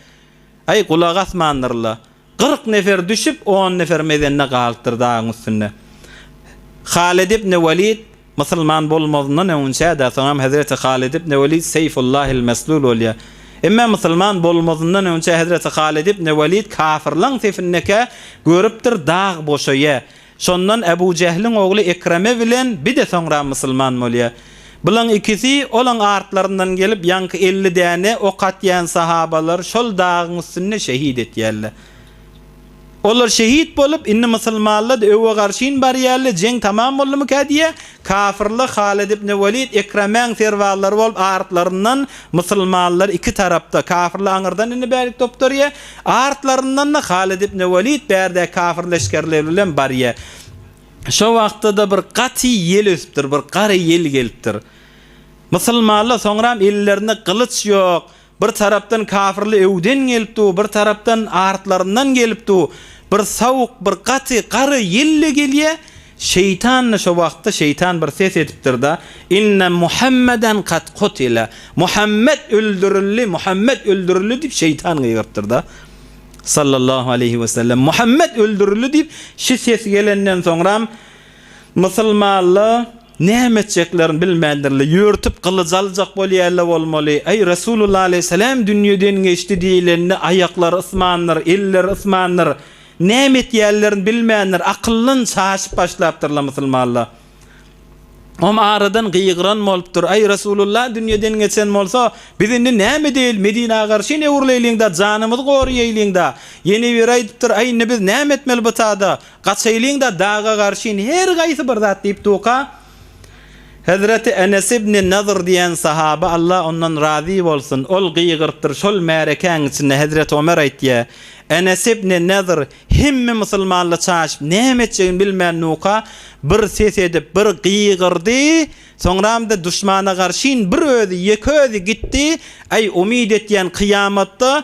Aý, gulak asmandyrla. Kyrk nefer düşüp, on nefer mezende galypdyr dagyň üstünde. Halyt ibn Walid. Musulman bolmazyndan öňünçä-de, soňam hezreti Halid ibn Welid Seýfullahil meslul bolýar. Emma musulman bolmazyndan öňünçä hezreti Halid ibn Welid kafyrlaň sefindekä görüpdir dag boşaýa. Şondan Ebu Jehliň ogly Ekreme bilen bide soňra musulman bolýa. Bulaň ikisi olaň artlaryndan gelip ýaňky elli däne ok atýan sahabalary şol dagyň üstünde şehit etýärler. Olar şehit bolup, indi musulmanlad öwe garşyn barýarle, jeň tamam boldumyka diýýä, kafyrly Halid ibn Walid, Ekremäň serbazlary bolup artlaryndan musulmanlar iki tarapda, kafyrly aňyrdan indi bärik topdurýa, artlaryndan-da Halid ibn Walid bärdäki kafir leşgerleri bilen barýa. Şo wagtda-da bir gaty ýel ösüpdir, bir gara ýel gelipdir. Musulmanlar soňram ellerinde gylyç ýok, Bir tarapdan kafirli öwden gelip dur, bir tarapdan artlaryndan gelip dur. Bir sowuk, bir gaty gara ýel-de gelýä. Şeýtan-da şo wagtda şeýtan bir ses edipdir-da, Inne Muhammeden kad kutile, Muhammet öldürildi, Muhammet öldürildi diýip şeýtan gygyrypdyr-da. Sallallahu aleýhi we sellem, Muhammet öldürildi diýip şi ses gelenden soňram, Musulmanla, Näme etjeklerini bilmändirler. Ýörtüp gylyç aljak bolýarlar bolmaly. Aý, Resulullah aleýhissalam dünýeden geçdi diýlende aýaklary ysmandyr, elleri ysmandyr. Näme etýärlerini bilmändir. Akyldan şaşyp başlapdyrlar musulmanlar. Om aradan gygyran bolupdyr. Aý, Resulullah dünýeden geçen bolsa, biz indi näme edeýeli? Medinä garşyn öwrüleýliň-dä, janymyzy goraýaýlyň-da. Ýene biri aýdypdyr, Aý, indi biz näme etmeli bu çagda? Gaçaýlyň-da daga garşyn her gaýsy bir zat diýip duka. Hezreti Enes ibni Nadyr diýen sahaba, Allah ondan razy bolsun, ol gygyrtdyr, şol märekäň içinde Hezreti Omer aýtýa, Enes ibni Nadyr hemme musulmanla çaşyp, näme etjegini bilmän duka, bir ses edip, bir gygyrdy, soňramda duşmana garşyn bir özi, ýeke özi gitdi, Aý, umyt etýän kyýamatda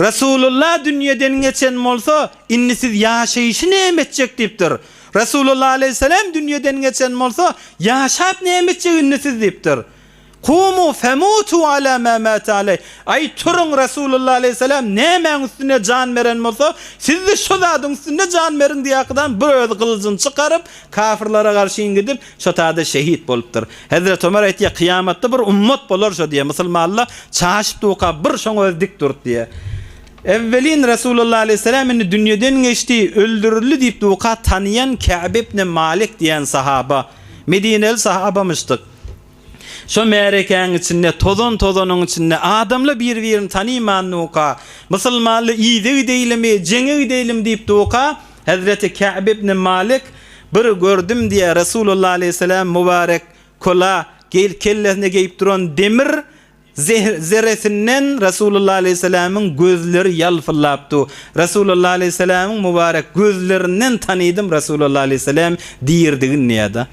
Resulalla dünýeden geçen bolsa, indi siz ýaşaýşy näme etjek diýipdir. Resulalla aleýhissalam dünýeden geçen bolsa, ýaşap näme etjek indi siz diýipdir. Kumu femutu ala ma mata aleý. Aý, turuň, Resulalla aleýhissalam nämäň üstüne jan beren bolsa, siz-de şo zadyň üstünde jan beriň diýýäkidan, bu özi gylyjyny çykaryp, kafirlere garşyň gidip, Şo tada şehit bolupdyr. Hezreti Ömer aýtýar, Kyýamatda bir ummat bolar şo diýýär, musulmanlar çaşyp-duka bir şoň özi dik durdy diýýär. Ewwelin Resulullah aleýhisselam indi dünýeden geçdi, öldürildi diýip duka tanýan Käb ibni Malik diýen sahaba, medineli sahabamyşdyk. Şo märekäň içinde, tozan-tozanyň içinde adamlar bir-birini tanyman duka, musulmanlar yza gideýlimi, jeňe gideýlimi diýip duka, Hezreti Käb ibn Malik, Bir gördüm diýýär, Resulullah aleýhissalam mübarek kola, geýil, kellesine geýip duran demir zerresinden Resulullah aleýhissalamyň gözleri ýalpyldap dur. Resulullah aleýhissalamyň mübarek gözlerinden tanydym Resulullah aleýhissalam diridigini diýýär-de.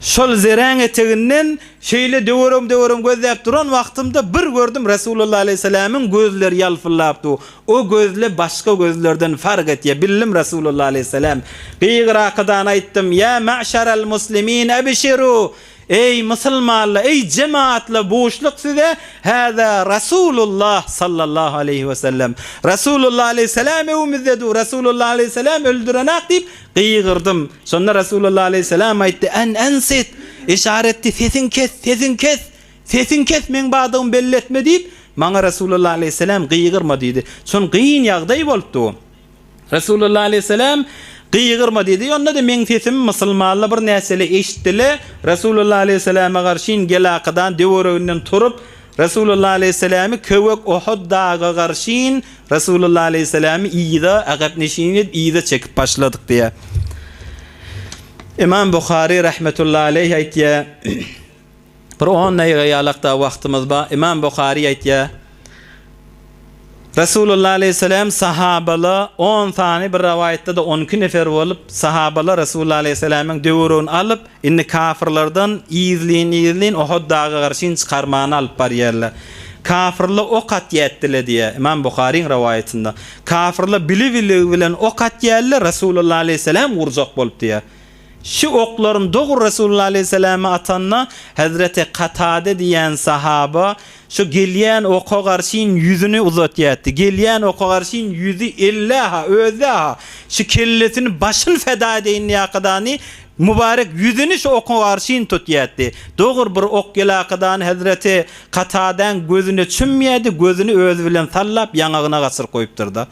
Şol zeräň eteginden şeýle döwerim-döwerim gözläp duran wagtymda bir gördüm Resulullah aleýhissalamyň gözleri ýalpyldap dur. O gözle başga gözlerden fark etýär. Bildim Resulullah aleýhissalam. Gygyr arkadan aýtdym, Ýa mäşerel muslimin ebişiru! Eý musulmanlar, eý jemaatlar buşluk size Hada Resulullah sallallahu aleýhi wesellem. Resulullah aleýhissalam öwümizde dur. Resulullah aleýhissalam öldürenak diýip Gygyrdym. Şonda Resulullah aleýhissalam aýtdy, An ansit! Yşara etdi, Sesiňi kes, sesiňi kes! Sesiňi kes, meň badygymy belli etme! diýip, maňa Resulullah aleýhissalam gygyrma diýdi. Çün gyn ýagdaý bolupdy bu. Resulullah aleýhissalam gygyrma diýdi. Onda-da meň sesimi musulmanla bir näçeli eşitdile, Resulullah aleýhissalama garşyn gelakadan döwereginden turup, Resulullah aleýhissalamy köwek Ohod daga garşyn, Resulullah aleýhissalamy yza agap neşin edip yza çekip başladyk diýýär. Ymam Buhary rahmetullahi aleýh aýtýar, bir on daýga ýalak da wagtymyz bar, Ymam Buhary aýtýar, Resulullah aleýhissalam sahabala on sany bir rawaýatda-da on iki nefer bolup, sahabala Resulullah aleýhisalamyň döwrügini alyp, Indi kafyrlardan yzlyn-yzlyn Ohod dagy arşyn çykarmany alyp barýarlar. Kafyrla ok atýatdyla diýýär, Ymam Buharyň rowaýatynda. Kafyrla bili-biligi bilen ok atýarla, Resulullah aleýhissalam urjak bolup diýýär. Şu oklaryny dogry Resulullah aleýhissalama atanda, Hezreti Katada diýýän sahaba Şo gelýän oka garşyn ýüzüni uzatýatdy. Gelýän oka garşyn ýüzi ellä-ha, özde-ha, şu kellesini, başyny feda edeýin diýäkadany, mübarek ýüzüni şu oka garşyn tutýatdy. Dogry bir ok gelakadany hezreti Katadaň gözüne çümýärdi, gözüni özi bilen sallap ýaňagyna gaçyryp goýupdyr-da.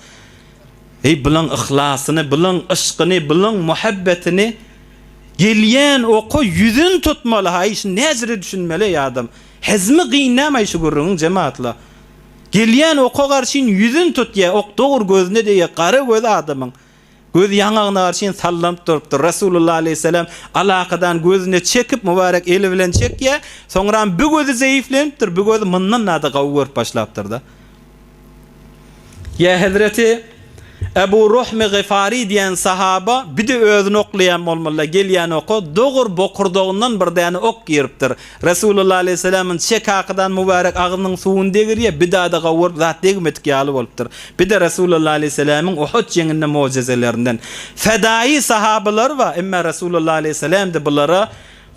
Eý, bulan yhlasyny, bulan yşkyny, bulan muhabbetini gelýän oka ýüzün tutmaly-ha, eý, şuny näjire düşünmeli, eý, adam? Hezmi gyn nämaý şu gürrüňiň jematla. Gelýän oka garşyn ýüzin tut ýa ok dogry gözüne degýä gara göz adamyň. Göz ýaňagyna garşyn sallanyp durupdyr. Resulullah aleýhissalam alakadan gözüne çekip mubarek eli bilen çekýä. Soňram bi gözi zeýiflenipdir, bi gözi myndan-da gawy görüp başlapdyrda. Ýa hezreti Ebu Ruhmi Gyfari diýen sahaba bide özüni oklaýan bolmaly-da, gelýän oka dogur bokurdagyndan bir däne ok giripdir. Resulullah aleýhisselamyň çe kakydan mübärek agzynyň suwuny degirýär, bidada gowuryp zat degmedik ýaly bolupdyr. Bide Resulullah aleýhisselamyň Uhut jeňinde mojezelerinden. Fedaýy sahabalar bar, emma Resulullah aleýhisselam-da bulara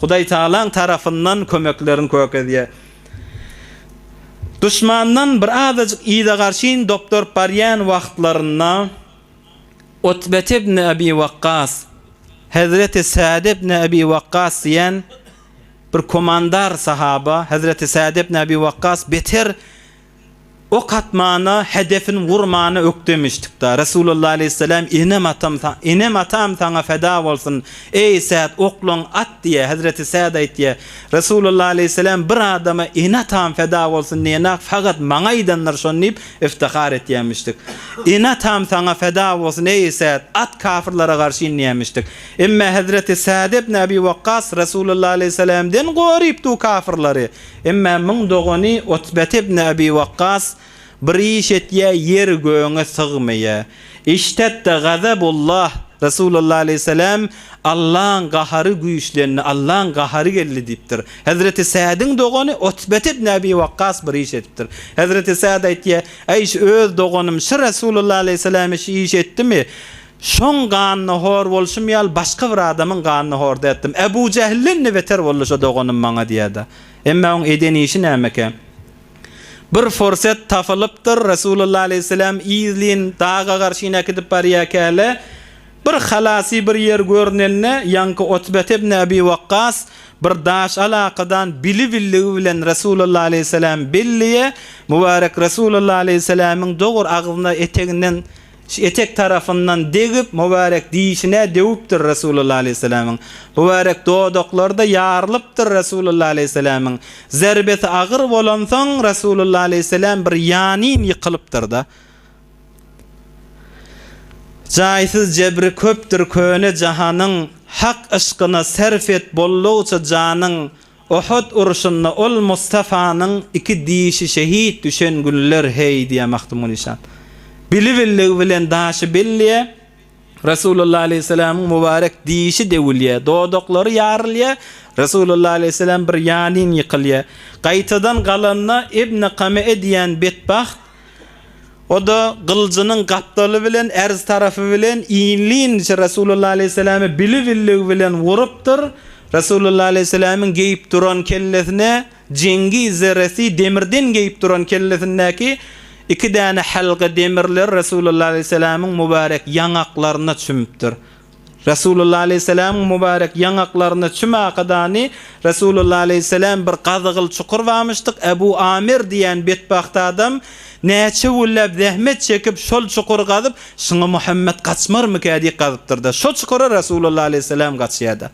Hudaýtagalaň tarapyndan kömeklerini kökezýär. Duşmandan bir azajyk yza-garşyn dopduryp barýan wagtlarynda Utbet ibn Abi Wakkas, Hezreti Sad ibn Abi Wakkas diýen bir komandar sahaba, Hezreti Sad ibn Abi Wakkas beter ok atmana, hedefini wurmana ökdemişdik-da, Resulalla aleýhisselam, Enem-atam, enem-atam saňa feda bolsun, eý, Sad, oklaň at diýýär, Hezreti Sad aýtýar, Resulalla aleýhisselam bir adama ene-atam feda bolsun diýenak fagat maňa aýdandyr şony diýip iftihar etýämişdik. Ene-atam saňa feda bolsun, eý, Sad, at kafyrlara garşy inýämişdik. Emma Hezreti Sad ibn Abi Wakkas Resulalla aleýhisselamden gorypdy bu kafyrlary. Emma muň dogany Utbet ibn Abi Wakgas, Bir iş etýä, ýer göňe sygmaýa. Iştedda gazabullah, Resulullah aleýhissalam, Allaň gahary güýçlendi, Allaň gahary geldi diýipdir. Hezreti Sädiň dogany Utbet ibn Abi Wakgas bir iş edipdir. Hezreti Säd aýtýa, Aýş öz doganym şu Resulullah aleýhissalam şu işi etdimi? Şoň ganyna hor bolşum ýaly başga bir adamyň ganyna horda etdim. Ebu Jähilden-de beter boldy şo doganym maňa diýýär-de. Emma oň eden işi nämeke? Bir forset tapylypdyr, Resulullah aleýhisselam yzlyn daga garşy inekidip barýarkäle, bir halasy bir ýer görnende, ýaňky Utbet ibn Abi Wakkas bir daş alakadan bili-billigi bilen Resulullah aleýhisselam belleýär, mübarek Resulullah aleýhisselamyň dogur agzyna eteginden Şu etek tarapyndan degip, mübärek dişine döwüpdir Resulullah aleýhissalamyň. Mübärek dodaklary-da ýarylypdyr Resulullah aleýhissalamyň. Zerbesi agyr bolansoň, Resulullah aleýhissalam bir ýanyn ýykylypdyr-da. Jaýsyz jebri köpdür köne jahanyň, Hak yşkyna serf et boldugyça janyň, Uhud uruşynda ol Mustafanyň iki dişi şehit düşen günler heý diýýär Magtymguly şa. Bili-billigi bilen daşy belleýär, Resulullah aleýhissalamyň mubarek dişi döwülýär, dodaklary ýarylýar, Resulullah aleýhissalam bir ýalyn ýykylýar. Gaýtadan galanda Ibni Kame'e diýýän betbagt, O-da gylyjynyň gapdaly bilen ärz tarapy bilen inlinç Resulullah aleýhissalamy bili-billigi bilen urupdyr, Resulullah aleýhissalamyň geýip duran kellesine jeňňi zerresi demirden geýip duran kellesindäki iki däne hälga demirler Resulullah aleýhissalamyň mübarek ýaňaklaryna çümüpdir. Resulullah aleýhissalamyň mübarek ýaňaklarynda çümakadandy. Resulullah aleýhissalam bir gazygyl çukur bamyşdyk, Ebu Amir diýen betbagt adam näçe günläp zähmet çekip şol çukury gazyp, şuňa Muhammet gaçmarmyka diýip gazypdyrda. Şo çukura Resulullah aleýhissalam gaçýada.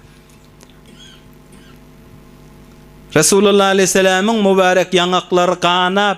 Resulullah aleýhissalamyň mübarek ýaňaklary ganap,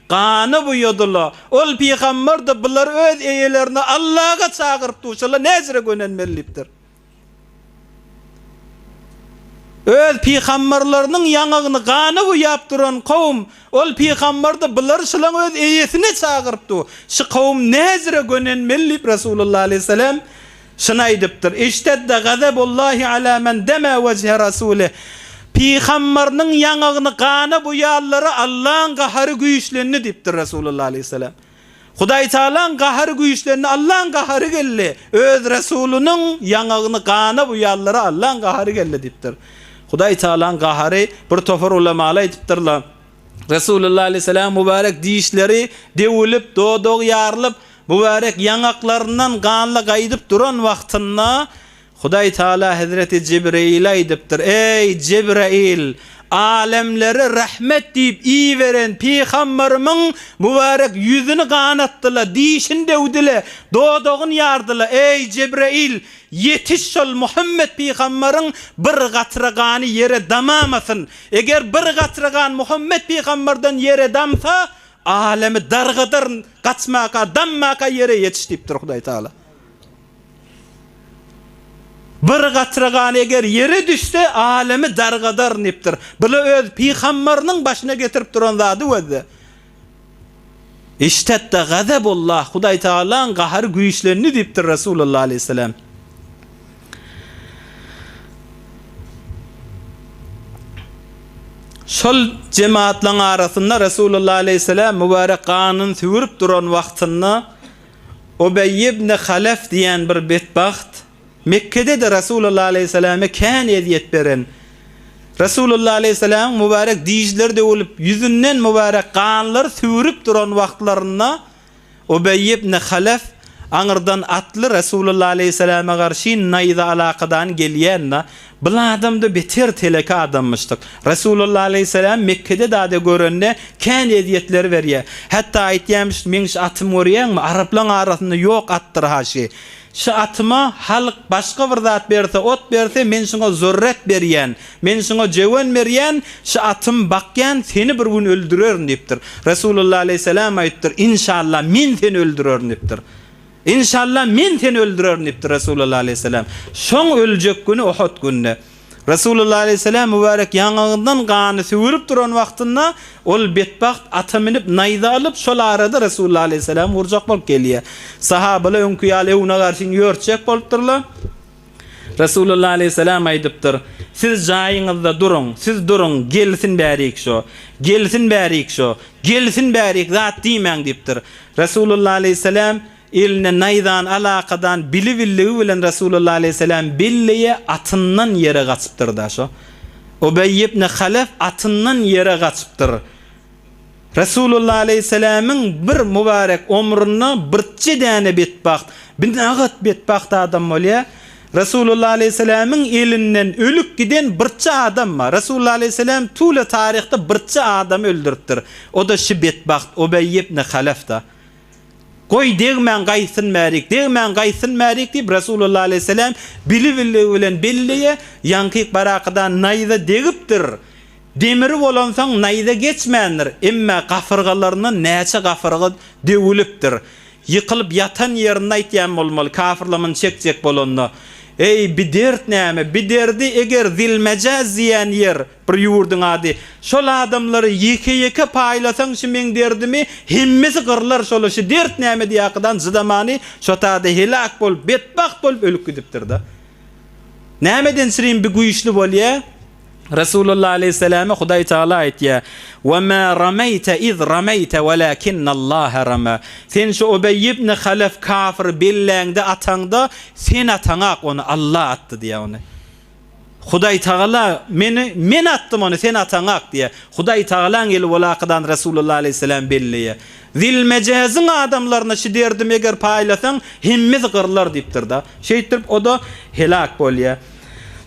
Gany buýadyla. Ol pygamberdi, bular öz eýelerini Allaga çagyryp duşala näjire gönenmelidipdir. Öz pygamberleriniň ýaňagyny gany buýap duran kowum, ol pygamberdi, bular şulaň öz eýesini çagyryp du, şy kowum näjire gönenmelidip Resulullah aleýhissalam, Şuny aýdypdyr, Iştedde gazabullahi ala men deme wejhe Rasuli, Pygammarynyň ýaňagyny gana boýanlara Allaň gahary güýçlendi diýipdir Resulullah aleýhissalam. Hudaý tagalaň gahary güýçlendi, Allaň gahary geldi, Öz Resulynyň ýaňagyny gana boýanlara Allaň gahary geldi diýipdir. Hudaý tagalaň gahary bir topar ulamaly aýdypdyrlar, Resulullah aleýhissalaň mubarek dişleri döwülip, dodagy ýarylyp, Mübärek ýaňaklaryndan ganly gaýdyp duran wagtynda, Hudaý Tagala hezreti Jibreýile aýdypdyr, Eý, Jibreýil! Alemlere rahmet diýip iberen pygamberimiň mübärek ýüzüni ganatdy-la, dişini döwdi-le, dodagyny ýardy-la, eý, Jibreýil, ýetiş şol Muhammet pygamberiň bir gatra gany ýere damamasyn! Eger bir gatra gan Muhammet pygamberden ýere damsa, Alemi dargadaryn, gaçmaka, dammaka ýere ýetiş diýipdir Hudaý Tagala. Bir gatra gan eger ýere düşse, alemi dargadaryn diýipdir. Bu-la öz pygambarynyň başyna getirip duran zady we-de. Iştedda gazabullah, Hudaý Tagalaň gahary güýçlendi diýipdir Resulullah aleýhissalam. Şol jemaatlaryň arasynda Resulullah aleýhissalam mübarek ganyny süwürip duran wagtynda Ubeý ibn Halef diýen bir betbagt, Mekgede-de Resulullah aleýhissalama kän ezýet beren, Resulullah aleýhissalamyň mübarek dižleri döwülip, ýüzünden mübarek ganlar süwürip duran wagtlarynda Ubeý ibn Halef aňyrdan atly Resulullah aleýhissalama garşy naýza alakadan gelýände, Bul adam-da beter teleke adammyşdyk. Resulullah aleýhissalamy Mekgede dade görende, kän ezýetler berýär. Hatda aýtýarmyş, Meň şu atymy görýäňmi? Araplaň arasynda ýok atdyr-ha şi. Şu atyma halk başga bir zat berse, ot berse, men şuňa zürret berýän, men şuňa jöwen berýän, şu atym bakýan, seni bir gün öldürerin diýipdir. Resulullah aleýhissalam aýdypdyr, Inşallah, men seni öldürerin diýipdir. Inşallah, men seni öldürerin diýipdir Resulullah aleýhissalam. Şoň öljek güni Uhud gününe. Resulullah aleýhissalam mübärek ýaňagyndan gany süwrüp duran wagtynda, ol betbagt ata münüp, naýza alyp, şol arada Resulullah aleýhissalamy urjak bolup gelýär. Sahabalar öňki ýaly öňüne garşyny ýörtjek bolupdyrlar. Resulullah aleýhissalam aýdypdyr, Siz jaýyňyzda duruň, siz duruň, gelsin bärik şo, gelsin bärik şo, gelsin bärik zat diýmäň diýipdir. Resulullah aleýhissalam. Eline naýzany alakadan bilibilligi bilen Resulullah aleýhisselam belleýe atyndan ýere gaçypdyrda şo Ubeý ibn Halef atyndan ýere gaçypdyr. Resulullah aleýhisselamyň bir mubarek omrunda birtje däne betbagt, binagat betbagt adam bolýa. Resulullah aleýhisselamyň elinden ölüp giden birtje adam bar. Resulullah aleýhisselam tüwle taryhda birtje adamy öldüripdir. O-da şi betbagt Ubeý ibn Halefda. Goý, degmän gaýtsyn mälik, degmän gaýtsyn mälik diýip, Resulullah aleýhisselam bili-biligi bilen belleýär, ýaňky barakydan naýza degipdir. Demiri bolansoň naýza geçmändir, emma gafyrgalaryndan näçe gafyrga döwülipdir. Ýykylyp ýatan ýerinde aýtýan bolmaly, kafyrlar muny çekjek bolanda, Eý, bi dert näme? Bi derdi eger zil-mejäz diýýän ýer, Bir ýurduň ady. Şol adamlary ýeke-ýeke paýlasaň şy meň derdimi hemmesi gyrlar şola şy dert näme diýakydan jydamany şo tada helak bolup betbagt bolup ölüp gidipdirda. Nämeden srin bi güýçli bolýa? Resulullah aleýhissalame Hudaý Taala aýtýa, Wa ma ramaýta iz ramaýta walakinnallaha rama. Sen şo Ubeý ibni Halaf kafyry belläňde ataňda sen ataňak ony Alla atdy diýa ony. Hudaýtagala meni men atdym ony sen ataňak diýýär. Hudaýtagalaň eli bol akadan Resulullah aleýhissalam belleýär. Zilmejeziň adamlaryna şu derdimi eger paýlasaň hemmiz gyrlar diýipdirda. Şeýtdirip oda helak bolýar.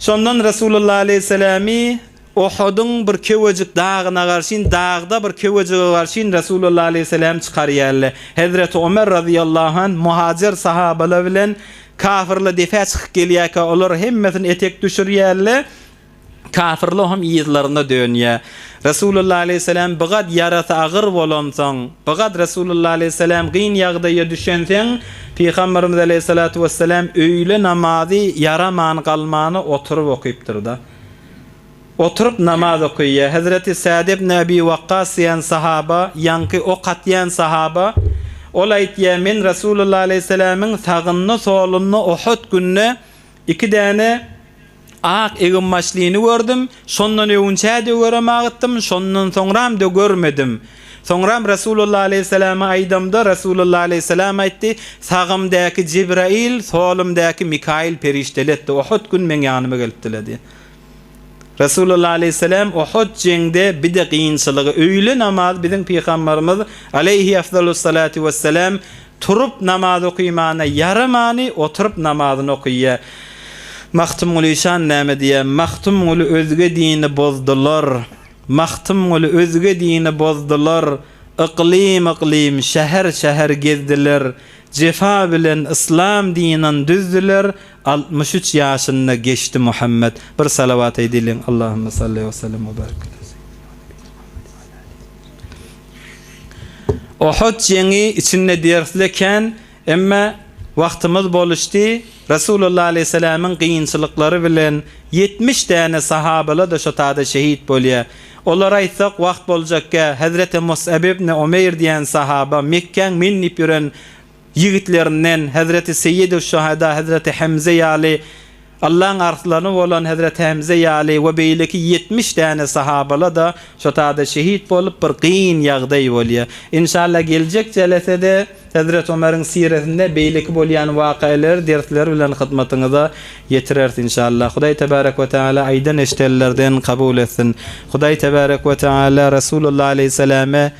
Şondan Resulullah aleýhissalamy Uhudyň bir kewejik dagyna garşyn, dagda bir kewejige garşyn Resulullah aleýhissalam çykarýarlar. Hezreti Ömer razyýallahu anh muhajer sahabalar bilen kafyrlar depä çykyp gelýärkä, olar hemmesini etek düşürýärler, kafyrlar hem yzlaryna dönýär. Resulullah aleýhissalam bigat ýarasy agyr bolansoň, bigat Resulullah aleýhissalam gyn ýagdaýa düşenseň, Pygamberimiz aleýhissalatu wesselam öýle namazy ýaraman galmana oturyp okypdyr-da. Oturyp namaz okaýýar. Hezreti Sad ibn Abi Wakkas diýen sahaba, ýaňky ok atýan sahaba. Ol aýtýar, Men Resulullah aleýhissalamiň sagynda-solunda Uhud günde iki däne ak eginbaşlyny gördüm. Şondan öwünçä-de görem agytdym, şondan soňram-da görmedim. Soňram Resulullah aleýhissalama aýdamda, Resulullah aleýhissalam aýtdy, Sagymdäki Jibraýyl, solumdäki Mikaýyl perişdeli etdi, Uhud gün meň ýanyma gelipdiler diýen. Resulullah aleýhissalam Uhud jeňde bide kynçylygy, öýle namazy biziň Pygambarymyz aleýhiafzalussalatu wessalam turup namaz okymana ýaramany oturyp namazyny okyýa. Magtymguly şan näme diýýä, Magtymguly özge dini bozdular. Magtymguly özge dini bozdular, Yklym yklym, şäher şäher gezdiler, Jefa bilen yslam dinan düzdüler, Altmyş üç ýaşynda geçdi Muhammet. Bir salawat eýdeliň, Allahümme salli we sellim we barik ala seýidina Muhammedin we ala alihi we sahbihi ecmaîn. Uhud jeňi içinde dersli kän Emma wagtymyz boluşdy, Resulullah aleýhissalamiň kynçylyklary bilen ýetmiş däne sahabalar-da şo tada şehit bolýa. Olar aýtsak wagt boljakgä, Hazreti Mus'ab ibn Umeýr diýen sahaba, Mekgäň men diýip ýören ýigitlerinden, Hazreti Seýyiduş-şuhada Hazreti Hemze ýaly, Allaň arslany bolan Hezreti Hemze ýaly we beýleki ýetmiş däne sahabala-da şo tada şehit bolup bir gyn ýagdaý bolýa. Inşallah geljek jelesede Hezret Omeriň siresinde beýleki bolýan wakaýlary dersler bilen hyzmatyňyza ýetireris inşallah. Hudaý tebarek we teala aýdan eşidenlerden kabul etsin. Hudaý tebarek we teala Resulullah aleýhissalame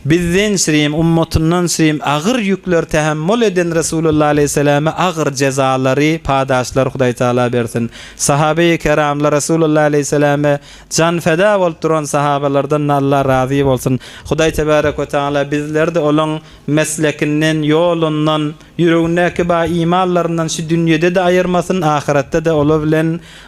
Bizdençrem, ummatyndançrem agyr ýükleri tähemmül eden Resulullah aleýhissalama agyr jezalary, padaşlary Hudaý Tagala bersin. Sahabeýi keramlar Resulullah aleýhissalama jan feda bolup duran sahabalardan Allah razy bolsun. Hudaý tebarek we tagala bizlerdi olaň meslekinden, ýolundan, ýüregindäki ba imanlaryndan şu dünýedede aýyrmasyn, ahyretde-de ola bilen